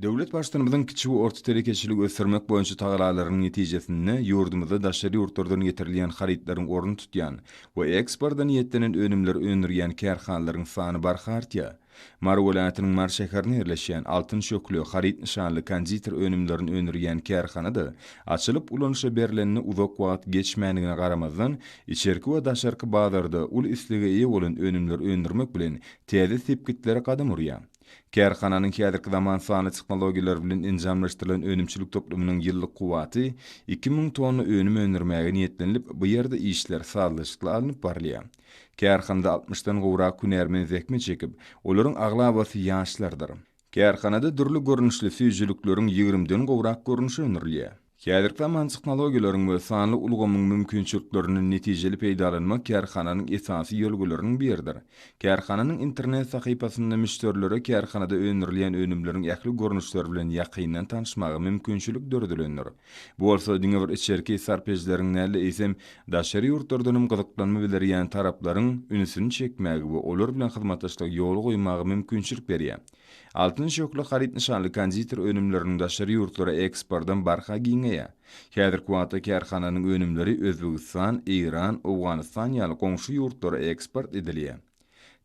Döwlet Baştutanymyzyň kiçi we orta telekeçiligi ösdürmek boýunça tagalalarynyň netijesinde ýurdumyzda daşary ýurtlardan getirilýän harytlaryň ornuny tutýan we eksporta niýetlenen önümleri öndürýän kärhanalaryň sany barha artýar. Mary welaýatynyň Mary şäherinde ýerleşýän Altyn şöhle haryt nyşanly konditer önümlerini öndürýän kärhana-da açylyp ulanyşa berlenine uzak wagt geçmändigine garamazdan, içerki we daşarky bazarda uly islege eýe bolan önümleri öndürmek bilen täze sepgitlere gadam urýar. Kärhananyň häzirki zaman sanly tehnologiýalar bilen enjamlaşdyrylan önümçilik toplumynyň ýyllyk kuwwaty iki müň tonna önüm öndürmäge niýetlenilip, bu ýerde işler sazlaşykly alnyp barylýar. Kärhanada altmyşdan gowrak hünärmen zähmet çekip, olaryň aglabasy ýaşlardyr. Kärhanada dürli görnüşli süýjülikleriň ýigrimden gowrak görnüşi öndürilýär. Häzirki zaman tehnologiýalaryň we sanly ulgamyň mümkinçiliklerinden netijeli peýdalanmak kärhananyň esasy ýörelgeleriniň biridir. Kärhananyň internet sahypasynda müşderilere kärhanada öndürilýän önümleriň ähli görnüşleri bilen ýakyndan tanyşmaga mümkinçilik döredilendir. Bu bolsa diňe bir içerki sarpejileriň däl-de, eýsem, daşary ýurtlardan hem gyzyklanma bildirýän taraplaryň ünsüni çekmäge we olar bilen hyzmatdaşlygy ýola goýmaga mümkinçilik berýär. Altyn şöhle haryt nyşanly konditer önümleriniň daşary ýurtlara eksportam barha giňeýär. Häzirki wagtda kärhananyň önümleri Özbegistan, Eýran, Owganystan ýaly goňşy ýurtlara eksport edilýär.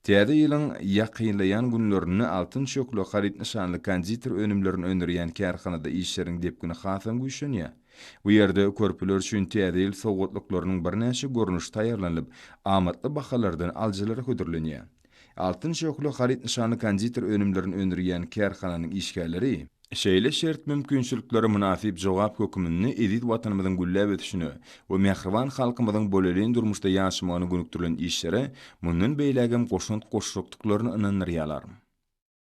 Täze ýylyň ýakynlaýan günlerinde Altyn şöhle haryt nyşanly konditer önümlerini öndürýän kärhanada işleriň depgini hasam güýçlenýär. Bu ýerde körpeler üçin Täze ýyl sowgatlyklarynyň birnäçe görnüşi taýýarlanylyp, amatly bahalardan alyjylara hödürlenýär. Altyn şöhle haryt nyşanly konditer önümlerini öndürýän kärhananyň işgärleri, Şeýle şert mümkinçiliklere mynasyp jogap höküminde eziz Watanymyzyň gülläp ösüşine we mähriban halkymyzyň bolelin durmuşda ýaşamagyna gönükdirilen işlere mundan beýlägem goşant goşjakdyklaryny ynandyrýarlar.